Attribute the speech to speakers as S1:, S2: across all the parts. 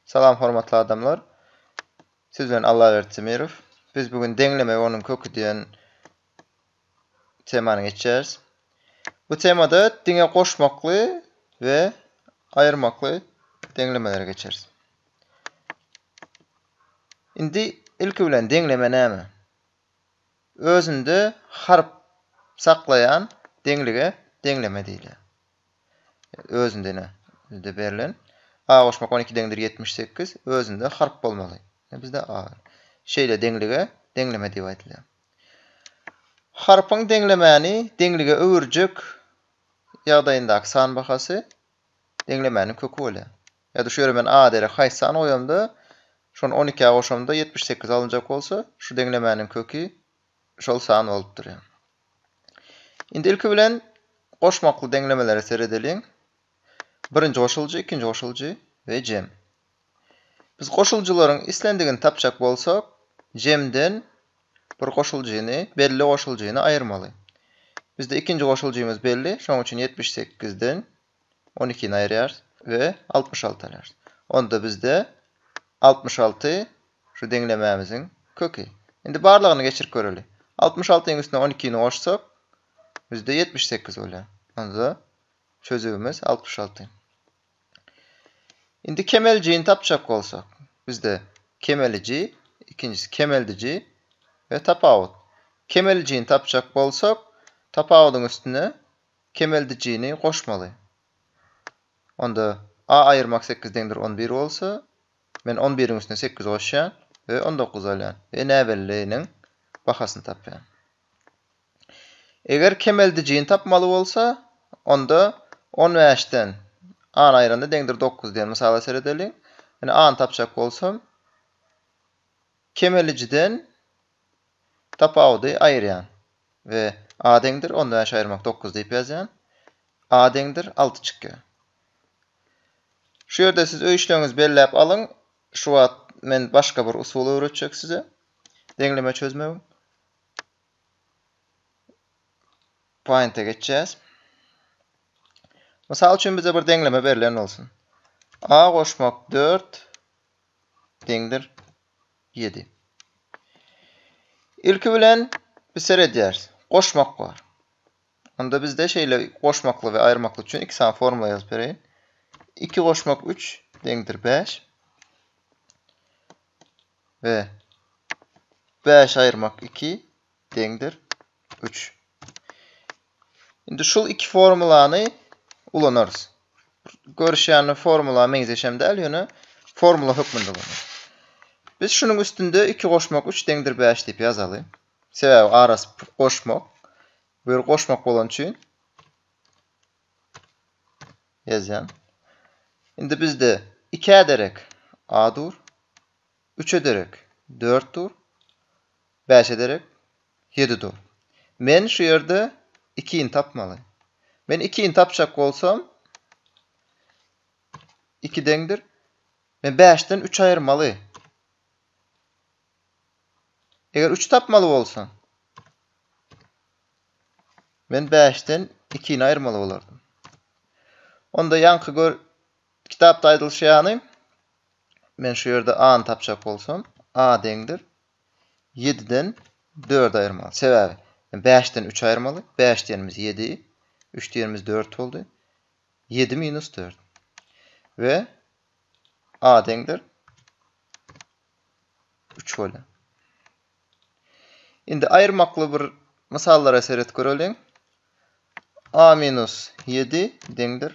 S1: Salam hormatly adamlar. Siz bilen Allaberdi Timirow. Biz bu gün Deňleme we onuň köki diýen temany geçýäris. Bu temada diňe goşmakly we aýyrmakly deňlemeleri geçeris. Indi ilki bilen deňleme näme? Özünde harp saklaýan deňlige deňleme diýilýär. özündene bizde berlen. A goşmak on iki deňdir ýetmiş sekiz, özünde harp bolmaly. Bizde A. Şeýle deňlige deňleme diýip aýdylýar. Harpyň deňlemäni deňlige öwürjek ýagdaýyndaky san bahasy deňlemäniň köki bolýar. Ýa-da şu ýere men A derek haýsy sany goýamda, şony on ikä goşamda ýetmiş sekiz alynjak bolsa, şu deňlemäniň köki şol san bolup durýar. Indi ilki bilen goşmakly deňlemelere seredeliň. Birinji goşuljy, ikinji goşuljy we jem. Biz goşuljylaryň islendigini tapjak bolsak, jemden bir goşuljyny, belli goşuljyny aýyrmaly. Bizde ikinji goşuljymyz belli, şonuň üçin ýetmiş sekizden On ikini aýyrýarys we altmyş alty alýarys. Onda bizde altmyş alty şu deňlemämiziň köki. Indi barlagyny geçirip göreli. Altmyş altynyň üstüne on ikini goşsak, bizde ýetmiş sekiz bolýar. Onda çözübimiz altmyş alty. Indi kemeljini tapjak bolsak, bizde kemeliji, ikinjisi kemeldiji we tapawut. Kemeljini tapjak bolsak, tapawudyň üstüne kemeldijini goşmaly. Onda a aýyrmak sekiz deňdir on bir bolsa, men on biriň üstüne sekiz goşýan we on dokuz alýan we näbelliniň bahasyny tapýan. Eger kemeldijini tapmaly bolsa, onda on bäşden a-ny aýyranda deňdir dokuz diýen mysala seredeliň. Ine a-ny tapjak bolsam, kemeldijiden Tapawudy aýyrýan we A deňdir onda bäş aýyrmak dokuz diýip ýazýan. A deňdir alty çykýar. Şu ýerde siz öý işleňizi belläp alyň. Şu wagt men başga bir usul öwretjek size. Deňleme çözmegiň. Paýnta geçýäs. Mysal üçin bize bir deňleme berlen bolsun. A goşmak dört deňdir ýedi. Ilki bilen biz seredýäris. Goşmak bar. Onda bizde şeýle goşmakly we aýyrmakly üçin iki sany formula ýazyp bereýin. Iki goşmak üç deňdir bäş. We bäş aýyrmak iki deňdir üç. Indi şul iki formulany ulanarys. Görüşýän formula meňzeşem däl, ýöne formula hökmünde ulanarys. Biz şunuň üstünde iki goşmak üç deňdir bäş diýip ýazaly. Sebäbi arasy goşmak. Bu ýer goşmak bolan üçin ýazýan. Indi bizde ikä derek a dur. Üç ederek, dört dur. Bäş ederek, ýedi dur. Men şu ýerde ikini tapmaly. Men ikini tapjak bolsam, iki deňdir. Men bäşden üç aýyrmaly. Eger üçi tapmaly bolsam, men bäşden ikini aýyrmaly bolardym. Onda ýaňky gör Kitapda aýdylyşy ýaly, men şu ýerde a-ny tapjak bolsam, a deňdir ýediden dördi aýyrmaly. Sebäbi bäşden üçi aýyrmaly. Bäş diýenimiz ýedi, üç diýenimiz dört boldy. Ýedi minus dört. We a deňdir üç bolýar. Indi aýyrmakly bir mysallara seret göreliň. a minus ýedi deňdir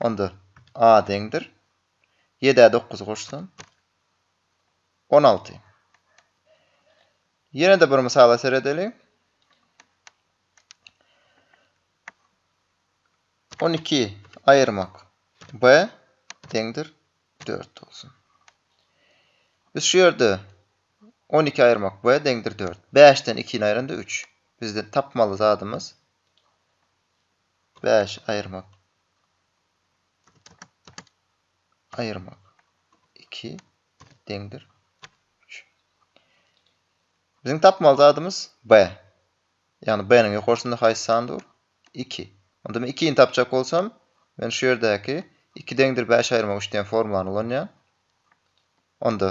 S1: Onda a deňdir. Ýedä dokuz goşsam, on alty. Ýene-de bir mysala seredeliň. On iki aýyrmak b deňdir dört bolsun. Biz şu ýerde on iki aýyrmak b deňdir dört. Bäşden ikini aýyranda üç. Bizde tapmaly zadymyz Bäş, aýyrmak. Aýyrmak. Iki, deňdir. Üç. Biziň tapmaly zadymyz B. Ýagny B-niň ýokarsynda haýsy san dur? Iki. Onda men ikini tapjak bolsam, men şu ýerdäki iki deňdir bäş aýyrmak üç diýen formulany ulanýan. Onda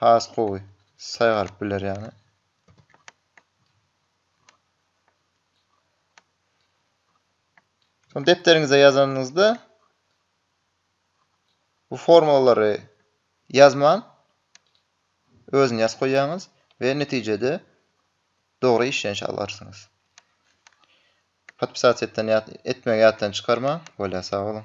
S1: Has gowy saýgaryp biler ýaly. Soň depderiňize ýazanyňyzda bu formulalary ýazman özüni ýazyp goýýaňyz we netijede dogry işlenişi alarsyňyz. Podpisat etmegi ýatdan çykarmaň. Bolýar, sag boluň.